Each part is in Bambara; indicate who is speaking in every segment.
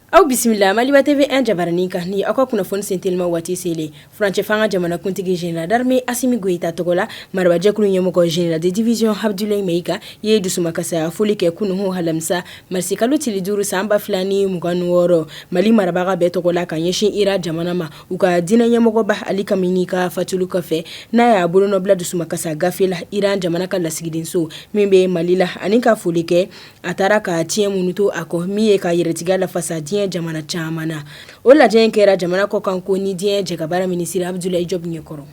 Speaker 1: Aw bisimila maliba TV1 jabaranin kan ni aw ka kunnafoni senteliman waati selen furancɛ fanga jamanakuntigi général d'armée Asimi Goyita tɔgɔ la maraba jɛkulu ɲɛmɔgɔ général de division Abdulayi Mayiga ye dusuma kasaya foli kɛ kunun alamisa marisi kalo tile duuru san ba fila ni mugan ni wɔɔrɔ mali marabaga bɛɛ tɔgɔ la ka ɲɛsin Iran jamana ma u ka diinɛ ɲɛmɔgɔba Ali Kameni ka fatuli kɔfɛ n'a y'a bolonɔ bila dusuma kasa gafe la iran jamana ka lasigidenso min bɛ mali la ani ka foli kɛ a taara ka tiɲɛ minnu to a kɔ min ye ka yɛrɛtigiya lafasa diɲɛ jamana caman na o lajɛ in kɛra jamana kɔ kan ko ni diɲɛ jɛkabaara minisiri Abdulayi Jɔpu ɲɛ kɔrɔ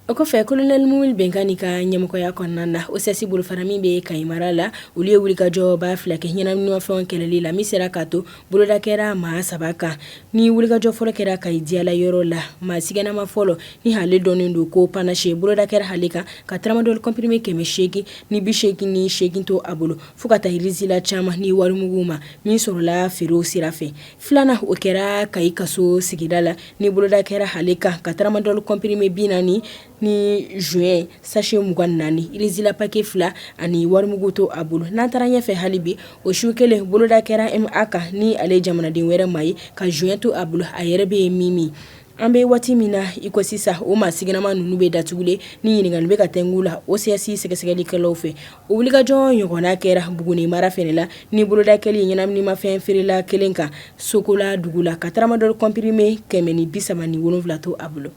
Speaker 1: O kɔfɛ kolonɛli Mumini Bɛngali ka ɲɛmɔgɔya kɔnɔna na OCS bolofara min bɛ Kayi mara la olu ye wulikajɔba fila kɛ ɲɛnaminimafɛn kɛlɛli la min sera k'a to boloda kɛra maa saba kan ni wulikajɔ fɔlɔ kɛra Kayi Diyala yɔrɔ la maa siganama fɔlɔ ni ale dɔnnen don ko Panache boloda kɛra ale kan ka tramadol comprimé kɛmɛ seegin ni bi seegin ni seegin to a bolo fo ka taa rizla caman ni warimugu ma min sɔrɔla feerew sira fɛ Filanan o kɛra Kayi Kaso sigida la ni boloda kɛra ale kan ka tramadol comprimé bi naani ni joint sachet mugan ni naani rizla paquet fila ani warimugu to a bolo n'an taara ɲɛfɛ hali bi o su kelen boloda kɛra MA kan ni ale jamanaden wɛrɛ ma ye ka joint to a bolo a yɛrɛ bɛ min min An bɛ waati min na i ko sisan o maa siganama ninnu bɛ datugulen ɲininkali bɛ ka tɛmɛ u la OCS sɛgɛsɛgɛlikɛlaw fɛ o wulikajɔ ɲɔgɔnna kɛra Buguni mara fɛnɛ la ni boloda kɛli ɲɛnaminimafɛn feerela kelen kan sokola dugu la ka tramadol comprimé kɛmɛ ni bi saba ni wolonwula to a bolo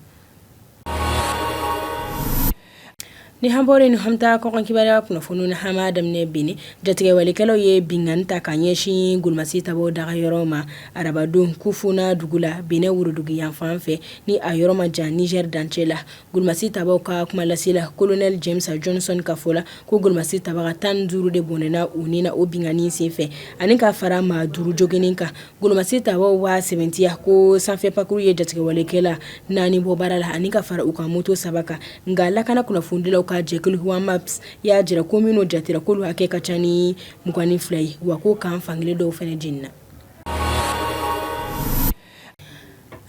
Speaker 1: Ni an bɔra yen an bɛ taa kɔkan kibaruya kunnafoniw na an b'a daminɛ Benin jatigɛwalekɛlaw ye binkanni ta ka ɲɛsin golomasitabaw dagayɔrɔ ma arabadon Kofuno dugu la Benin worodugu yanfan fɛ ni a yɔrɔ ma jan Nizɛri dancɛ la golomasitabaw ka kumalasila kolonɛli James Johnson ka fɔ la ko golomasitaba tan duuru de bɔnɛna u ni na o binkanni sen fɛ ani ka fara maa duuru joginnen kan Golomasitabaw y'a sɛmɛntiya ko sanfɛ pankurun ye jatigɛwalekɛla naani bɔ baara la ani ka fara u ka moto saba kan nka lakana kunnafonidilaw ka jɛkulu Wamaps y'a jira ko minnu jatera k'olu hakɛ ka ca ni mugan ni fila ye wa ko kan fankelen dɔw fana jenina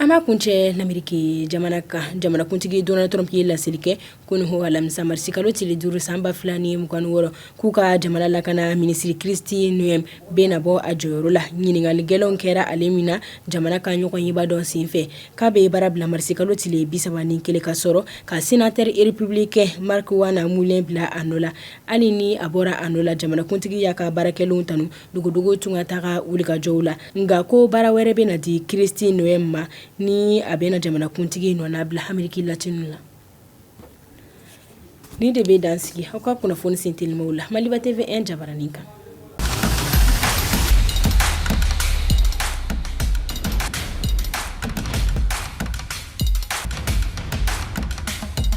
Speaker 1: An b'a kuncɛ Lamɛriki jamana kan jamanakuntigi Donald Trump ye laseli kɛ kunun alamisa marisi kalo tile duuru san ba fila ni mugan ni wɔɔrɔ k'u ka jamana lakana minisiri Kristi Noem bɛna bɔ a jɔyɔrɔ la ɲininkali gɛlɛnw kɛra ale min na jamana ka ɲɔgɔnyeba dɔ senfɛ k'a bɛ baara bila marisi kalo tile bi saba ni kelen ka sɔrɔ ka sénateur républicain Markwayne Mullin bila a nɔ la hali ni a bɔra a nɔ la jamanakuntigi y'a ka baara kɛlenw tan dogodogo tungataga wulikajɔw la nka ko baara wɛrɛ bɛ na di kristi noem ma ni a bɛ na jamanakuntigi nɔnabila ameriki latini la nin de bɛ dan sigi aw ka kunnafoni sentelimaw la maliba tv 1 jabaranin kan